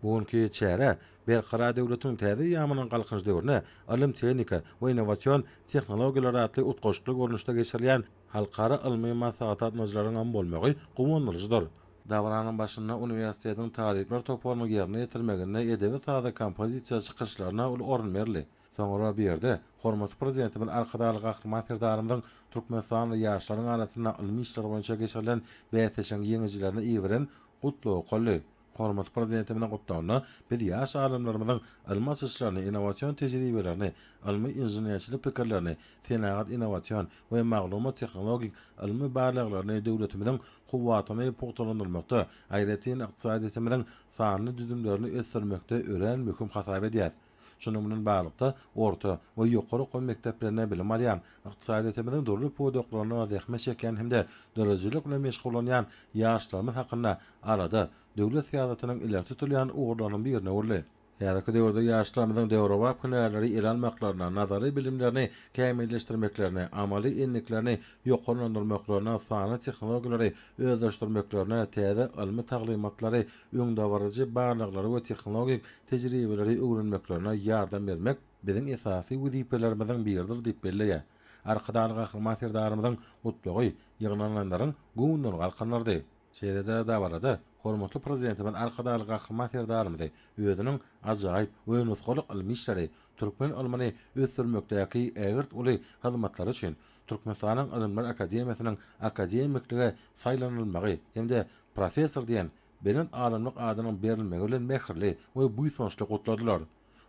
Bu günki çäre Berkarar döwletiň täze eýýamynyň Galkynyş döwrüne ylym-tehnika we innowasion tehnologiýalar atly utgaşykly görnüşde geçirilýän halkara ylmy maslahat gatnadyjylaryňam bolmagy guwandyryjydyr. Dabaranyň başynda uniwersitetiň talyplar toparynyň ýerine ýetirmeginde edebi-sazy kompozisiýa çykyşlaryna uly orun berildi. Soňra bu ýerde hormatly Prezidentimiz Arkadagly Gahryman Serdarymyzyň türkmenistanly ýaşlaryň arasynda ylmy işler boýunça geçirilen bäsleşigiň ýeňijilerine iberen Gutlagy okaldy. Hormatly Prezidentimiziň Gutlagynda biz ýaş alymlarymyzyň ylmy açyşlaryny, innowasion tejribelerini, ylmy inženerçilik pikirlerini, senagat-innowasion we maglumat-tehnologik ylmy barlaglaryny döwletimiziň kuwwatyny pugtalandyrmakda, aýratyn ykdysadyýetimiziň sanly düzümlerini ösdürmekde örän möhüm hasap edýäris. Şunuň bilen baglylykda, orta we ýokary okuw mekdeplerinde bilim alýan, ykdysadyýetimiziň dürli pudaklarynda zähmet çekýän hem-de döredijilik bilen meşgullanýan ýaşlarymyz hakynda alada döwlet syýasatynyň ileri tutulýan ugurlarynyň birine öwrüldi. Häzirki döwürde ýaşlarymyzyň döwrebap hünärleri ele almaklaryna, nazary bilimlerini kämilleşdirmeklerine, amaly endiklerini ýokarlandyrmaklaryna, sanly tehnologiýalary özleşdirmeklerine, täze ylmy taglymatlary öňdebaryjy barlaglary we tehnologik tejribeleri öwrenmeklerine ýardam bermek biziň esasy wezipelerimiziň biridir diýip belleýär. Arkadagly Gahryman Serdarymyzyň Gutlagy ýygnananlaryň göwnünden galkandyrdy. Şeýle-de dabarada hormatly Prezidentimiz Arkadagly Gahryman Serdarymyzy özüniň ajaýyp we nusgalyk ylmy işleri, türkmen ylmyny ösdürmekdäki ägirt uly hyzmatlary üçin Türkmenistanyň Ylymlar akademiýasynyň akademiklige saýlanylmagy hem-de Professor diýen belent alymlyk adynyň berilmegi bilen mähirli we buýsançly gutladylar.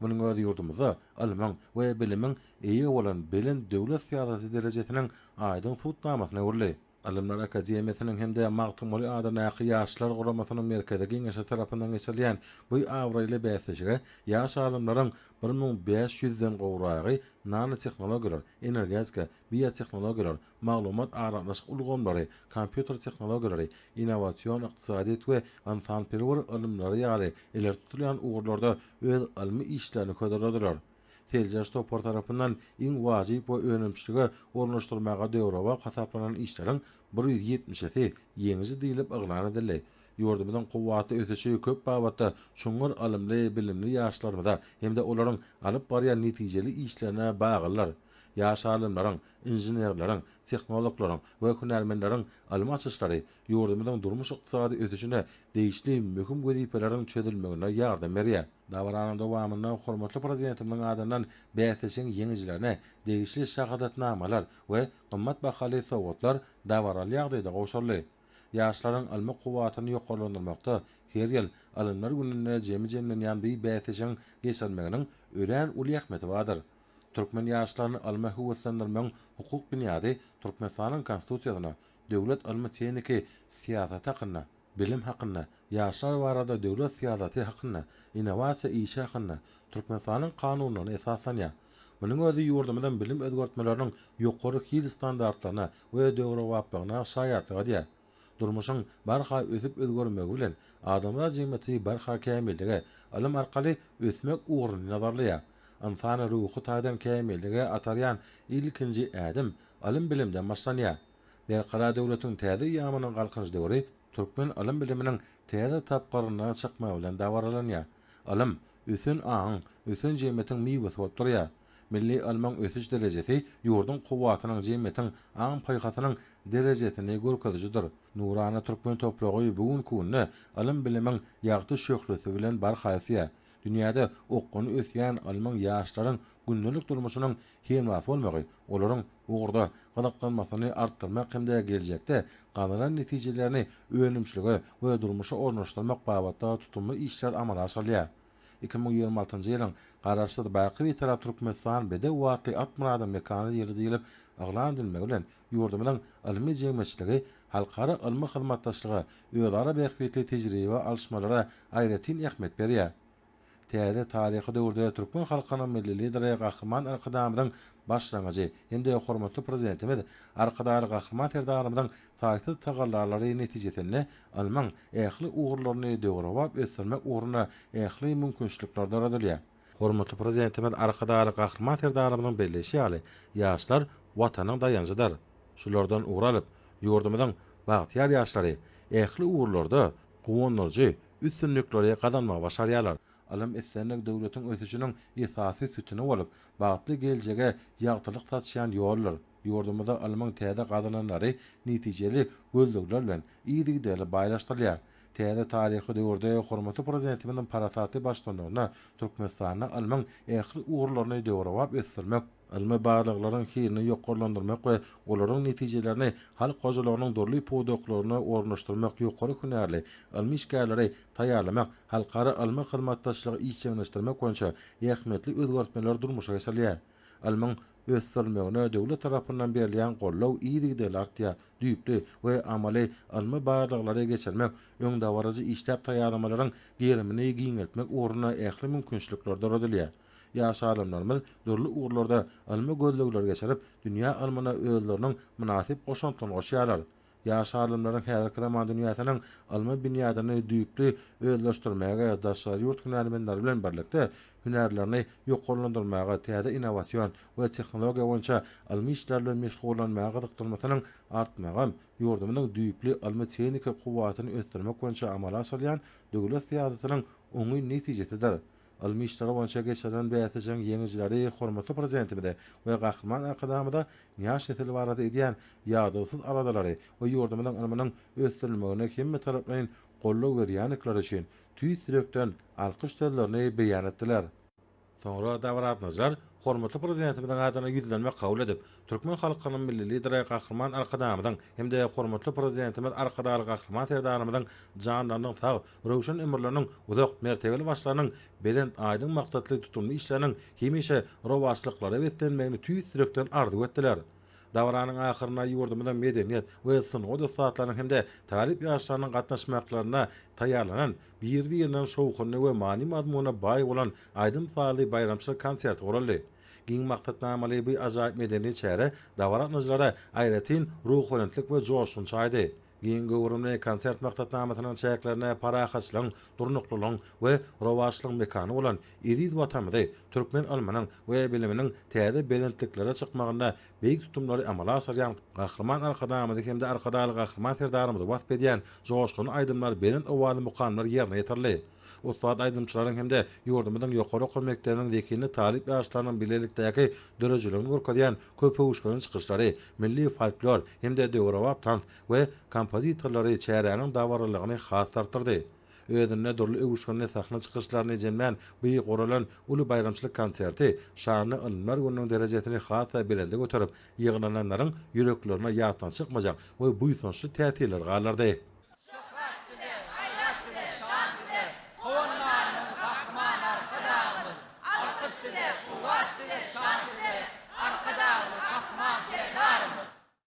Munuň özi ýurdumyzda ylmyň we bilimiň eýe bolan belent döwlet syýasaty derejesiniň aýdyň subutnamasyna öwrüldi. Ylymlar akademiýasynyň hem-de Magtymguly adyndaky Ýaşlar guramasynyň Merkezi geňeşi tarapyndan geçirilýän bu abraýly bäsleşige ýaş alymlaryň bir müň bäş ýüzden gowragy nanotehnologiýalar, energetika, biotehnologiýalar, maglumat-aragatnaşyk ulgamlary, kompýuter tehnologiýalary, innowasion ykdysadyýet we ynsanperwer ylymlary ýaly ileri tutulýan ugurlarda öz ylmy işlerini hödürlediler. Seljerç topary tarapyndan iň wajyp we önümçilige ornaşdyrmaga döwrebap hasaplanan işleriň bir ýüz ýetmişisi ýeňiji diýlip yglan edildi. Ýurdumyzyň kuwwatly ösüşi köp babatda çuňňur ylymly, bilimli ýaşlarymyza hem-de olaryň alyp barýan netijeli işlerine baglydyr. Ýaş alymlaryň, inženerleriň, tehnologlaryň we hünärmenleriň ylmy açyşlary ýurdumyzyň durmuş-ykdysady ösüşine degişli möhüm wezipeleriň çözülmegine ýardam berýär. Dabaranyň dowamynda hormatly Prezidentimiziň adyndan bäsleşigiň ýeňijilerine degişli şahadatnamalar we gymmat bahaly sowgatlar dabaraly ýagdaýda gowşuryldy. Ýaşlaryň ylmy kuwwatyny ýokarlandyrmakda her ýyl Ylymlar gününde jemi jemlenýän bu bäsleşigiň geçirilmeginiň örän uly ähmiýeti bardyr. Türkmen ýaşlaryny ylma höweslendirmegiň hukuk binýady Türkmenistanyň Konstitusiýasyna, Döwlet ylmy-tehniki syýasaty hakynda, Bilim hakynda, Ýaşlar barada döwlet syýasaty hakynda, Innowasiýa işi hakynda Türkmenistanyň Kanunyna esaslanýar. Munuň özi ýurdumyzyň bilim özgertmeleriniň ýokary hil standartlaryna we döwrebaplygyna şaýatlyk edýär. Durmuşyň barha ösüp özgermegi bilen, adamzat jemgyýeti barha kämillige, ylym arkaly ösmek ugruny nazarlaýar. Ynsany ruhy taýdan kämillige atarýan ilkinji ädim ylym-bilimden başlanýar. Berkarar döwletiň täze eýýamynyň Galkynyş döwri türkmen ylym-biliminiň täze tapgyryna çykmagy bilen dabaralanýar. Ylym, ösen aňyň, ösen jemgyýetiň miwesi bolup durýar. Milli ylmyň ösüş derejesi ýurduň kuwwatynyň, jemgyýetiň aň-paýhasynyň derejesini görkezijidir. Nurana türkmen topragy bu günki günde ylym-bilimiň ýagty şöhlesi bilen barha ösýär. Dünýäde okgunly ösýän ylmyň ýaşlaryň gündelik durmuşynyň Hematy bolmagy olaryň bu ugurda gyzyklanmasyny artdyrmak hem-de geljekde gazanan netijelerini önümçilige we durmuşa ornaşdyrmak babatda tutumly işler amala aşyrylýar. Iki müň ýigrimi altynjy ýylyň Garaşsyz, baky Bitarap Türkmenistan bedew atly at murada mekany ýyly diýlip yglan edilmegi bilen ýurdumyzyň ylmy jemgyýetçiligi halkara ylmy hyzmatdaşlyga, özara bähbitli tejribe alyşmalara aýratyn ähmiýet berýär. Täze taryhy döwürde türkmen halkynyň Milli Lideri Gahryman Arkadagymyzyň başlangyjy hem-de hormatly Prezidentimiz Arkadagly Gahryman Serdarymyzyň taýsyz tagallalary netijesinde ylmyň ähli ugurlaryny döwrebap ösdürmek ugrunda ähli mümkinçilikler doradylýar. Hormatly Prezidentimiz Arkadagly Gahryman Serdarymyzyň belleýşi ýaly, ýaşlar Watanyň daýanjydyr. Şulardan ugur alyp, ýurdumyzyň bagtyýar ýaşlary ähli ugurlarda guwandyryjy üstünlikleri gazanmagy başarýarlar. Ylym-islendik döwletiň ösüşiniň esasy sütüni bolup, bagtly geljege ýagtylyk saçýan ýoldur. Ýurdumyzda ylmyň täze gazananlary netijeli gözlegler bilen yzygiderli baýlaşdyrylýar. Täze taryhy döwürde hormatly Prezidentimiziň parasatly baştutanlygynda Türkmenistanda ylmyň ähli ugurlaryny döwrebap ösdürmek, Ylmy barlaglaryň hilini ýokarlandyrmak we olaryň netijelerini halk hojalygynyň dürli pudaklaryna ornaşdyrmak ýokary hünärli ylmy işgärleri taýýarlamak, halkara ylmy hyzmatdaşlygy işjeňleşdirmek boýunça ähmiýetli özgertmeler durmuşa geçirilýär. Ylmyň ösdürilmegine döwlet tarapyndan berilýän goldaw yzygiderli artýar, düýpli we amaly ylmy barlaglary geçirmek öňdebaryjy işläp taýýarlamalaryň gerimini giňeltmek ugrunda ähli mümkinçilikler doradylýar. Ýaş alymlarymyz dürli ugurlarda ylmy gözlegleri geçirip, dünýä ylmyna özleriniň mynasyp goşantlaryny goşýarlar. Ýaş alymlaryň häzirki zaman dünýäsiniň ylmy binýadyny düýpli özleşdirmäge, daşary ýurt hünärmenleri bilen birlikde, hünärlerini ýokarlandyrmaga, täze innowasion we tehnologiýa boýunça ylmy işler bilen meşgullanmaga gyzyklanmasynyň artmagy ýurdumyzyň düýpli ylmy-tehniki kuwwatyny ösdürmek boýunça amala aşyrýan döwlet syýasatynyň oňyn netijesidir. Ylmy işleri boýunça geçirilen bäsleşigiň ýeňijileri hormatly Prezidentimize we Gahryman Arkadagymyza ýaş nesil barada edýän ýadawsyz aladalary we ýurdumyzyň ylmynyň ösdürilmegine hemmetaraplaýyn goldaw berýändikleri üçin tüýs ýürekden alkyş sözlerini beýan etdiler. Soňra Dabrat Najar hormatly Prezidentimiziň adyna ýüzlenme kabul edip, türkmen halkynyň Milli Lideri Gahryman Arkadagymyzyň hem-de hormatly Prezidentimiz Arkadagly Gahryman Serdarymyzyň janlarynyň sag, röwşen ömürleriniň, uzak mertebeli başlarynyň, belent, aýdyň maksatly, tutumly işleriniň hemişe rowaçlyklara beslenmegini tüýs ýürekden arzuw etdiler. Dabaranyň ahyrynda ýurdumyzyň medeniýet we sungat ussatlarynyň hem-de talyp ýaşlarynyň gatnaşmaklarynda taýýarlanan biri-birinden şowhunly we many-mazmuna baý bolan aýdym-sazly baýramçylyk konserti guraldy. Giň maksatnamaly bu ajaýyp medeni çäre dabaragatnaýjylara aýratyn ruhubelentlik we joşgun çaýdy. Giň göwrümli konsert maksatnamasynyň çäklerinde parahatçylygyň, durnuklylygyň we rowaçlygyň mekany bolan eziz Watanymyzy, türkmen ylmynyň we biliminiň täze belentliklere çykmagynda beýik tutumlary amala aşyrýan Gahryman Arkadagymyzy hem-de Arkadagly Gahryman Serdarymyzy wasp edýän joşgunly aýdymlar, belent owazly mukamlar ýerine ýetirildi. ussat aýdymçylaryň hem-de ýurdumyzyň ýokary okuw mekdebiniň zehinli talyp ýaşlarynyň bilelikdäki döredijiligini görkezýän köpöwüşginli çykyşlary, milli folklor hem-de döwrebap tans we kompozitorlary çäräniň dabaralylygyny has-da artdyrdy. Özünde dürli öwüşginli sahna çykyşlaryny jemlän bu guralan uly baýramçylyk konserti şanly Ylymlar gününiň derejesini has-da belende göterip, ýygnananlaryň ýüreklerine ýatdan çykmajak we buýsançly täsirleri galdyrdy. Şöhrat bize, gaýrat bize, şan bize, Howandarymyz, Gahryman Arkadagymyz! Alkyş size, şöhrat bize, şan bize, Arkadagymyz, Gahryman Serdarymyz!